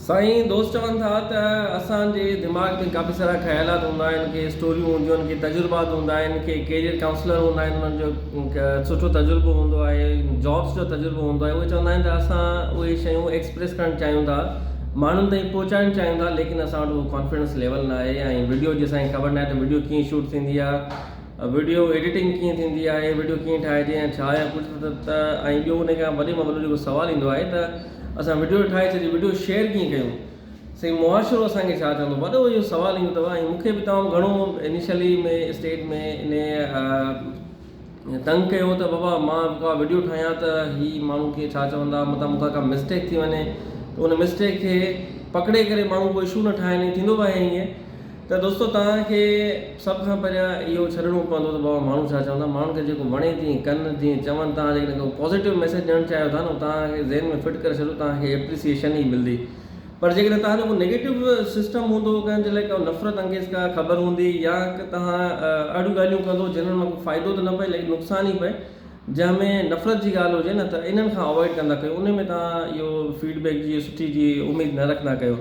سائين دوست چون ٿا ته اسان جي دماغ ۾ ڪافي سارا خيالات هوندا آهن ڪي اسٽوريون هونديون آهن ڪي تجربات هوندا آهن ڪي ڪيريئر ڪائونسلر هوندا آهن انهن جو سٺو تجربو هوندو آهي جابس جو تجربو هوندو آهي اهي چوندا آهن ته اسان اهي شيون ايڪسپريس ڪرڻ چاهيون ٿا ماڻهن تائين پهچائڻ چاهيون ٿا ليڪن اسان وٽ اهو ڪانفيڊنس ليول نه آهي ۽ وڊيو جي اسان کي خبر نه آهي ته وڊيو ڪيئن شوٽ ٿيندي آهي وڊيو ايڊيٽنگ ڪيئن ٿيندي آهي وڊيو ڪيئن ٺاهجي ۽ ڇا ۽ ڪجهه ته ۽ ٻيو ان کان وڏي ۾ وڏو جيڪو سوال ايندو آهي ته اسان وڊيو ٺاهي ڇڏي وڊيو شيئر ڪيئن ڪيون سائين معاشرو اسان کي ڇا چوندو وڏو اهو سوال ايندو اٿو ۽ مون کي به تمام گهڻو انيشلي ۾ اسٽيج ۾ انهي تنگ ڪيو ته بابا مان ڪا وڊيو ٺاهيان ته هي ماڻهو ڪيئن ڇا چوندا متان مون کان ڪا مسٽيڪ ٿي وڃي ته ان مسٽيڪ کي پڪڙي ڪري ماڻهو ڪو اشو نه ٺاهي ٿيندو به آهي ائين ته دوستو توهان کي سڀ کان پهريان اهو ڇڏڻو پوندو ته بابا ماڻهو ڇا چوندا ماڻهن کي جيڪو وڻي تيئن ڪن جيئن چون توهان جيڪڏهن ڪو پازيٽو ميسيج ڏيڻ چاهيو ٿا نه توهان کي ذهن ۾ فٽ ڪري ڇڏيو توهان کي ايپريسيئيشن ئي ملندي پر جيڪڏهن توهان جو ڪو نيگيٽو سسٽم هوندو ڪنهن جي لاء ڪا نفرت انگيز ڪا خبر هوندي يا توهان اهڙيون ڳالهيون ڪندو جنهن مان ڪو فائدو ته نه پئي ليڪن نقصان ئي پئي جنهن ۾ نفرت جي ڳالهه هجي نه ته انهن کان اوائڊ ڪندا ڪيو ان ۾ توهان اهو فيڊبيڪ جي سٺي جي اميد نه رکندا ڪيو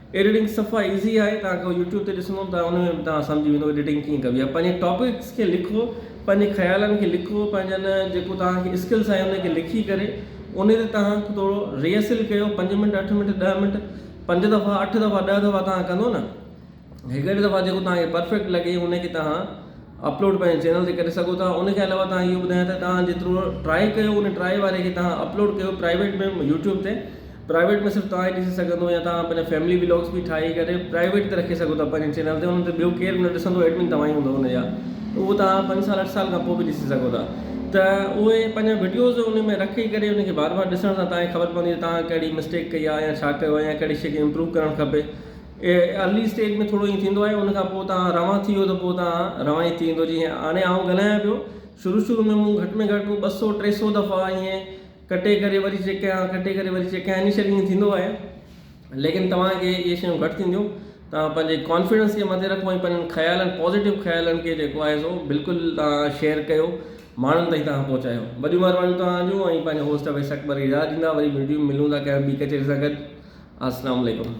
ايڊيٽنگ صفا ايزي آهي توهان کي يوٽيوب تي ڏسندو ته ان ۾ به توهان سمجهي ويندو ايڊيٽنگ ڪيئن ڪبي آهي پنهنجي ٽاپڪس کي لکو پنهنجي خيالن کي لکو پنهنجن جيڪو توهان کي اسڪلس آهي ان کي لکي ڪري ان تي توهان ٿورو ريئسل ڪيو پنج منٽ اٺ منٽ ڏهه منٽ پنج دفعا اٺ دفعا ڏهه دفعا توهان ڪندو نه هڪڙي دفعا جيڪو توهان کي پرفيڪٽ لڳي ان کي توهان اپلوڊ پنهنجي چينل تي ڪري سگهو ٿا ان کي علاوه توهان اهو ٻڌايان ته توهان جيترو ٽرائي ڪيو ان ٽرائي واري کي توهان اپلوڊ ڪيو پرائيويٽ ۾ يوٽيوب تي پرائيويٽ ۾ صرف توهان ئي ڏسي سگهندو يا توهان پنهنجا فيملي ولاگس به ٺاهي ڪري پرائيويٽ تي رکي سگهو ٿا پنهنجي چينل تي انهن تي ٻيو ڪير به نه ڏسندو ايڊمن توهان ئي هوندو ان جا ته اهو توهان پنج سال اٺ سال کان پوء به ڏسي سگهو ٿا ته اهي پنهنجا وڊيوز ان ۾ رکي ڪري ان کي بار بار ڏسڻ سان توهان کي خبر پوندي ته توهان ڪهڙي مسٽيڪ ڪئي آهي يا ڇا ڪيو آهي يا ڪهڙي شي کي امپروو ڪرڻ کپي ارلي اسٽيج ۾ ٿورو ائين ٿيندو آهي ان کان پوء توهان روان ٿي ويو ته پوء توهان روان ئي ٿي ويندو جيئن هاڻي آئون ڳالهايان پيو شروع شروع ۾ مون گهٽ ۾ گهٽ ٻه سؤ ٽي سؤ دفعا ائين ڪٽي ڪري وري چيڪ ڪيان ڪٽي ڪري وري چيڪ ڪيان انيشلي ائين ٿيندو آهي ليڪن توهان کي اهي شيون گهٽ ٿينديون توهان پنهنجي ڪانفيڊنس کي مٿي رکو ۽ پنهنجن خيالن پازيٽو خيالن کي جيڪو آهي سو بلڪل توهان شيئر ڪيو ماڻهن تائين توهان پهچايو وڏيون مهربانيون توهان جون ۽ پنهنجو هوسٽ اويس اڪبر اجازت ڏيندا وري وڊيو ملون ٿا ڪنهن ٻي ڪچهري سان گڏ السلام عليڪم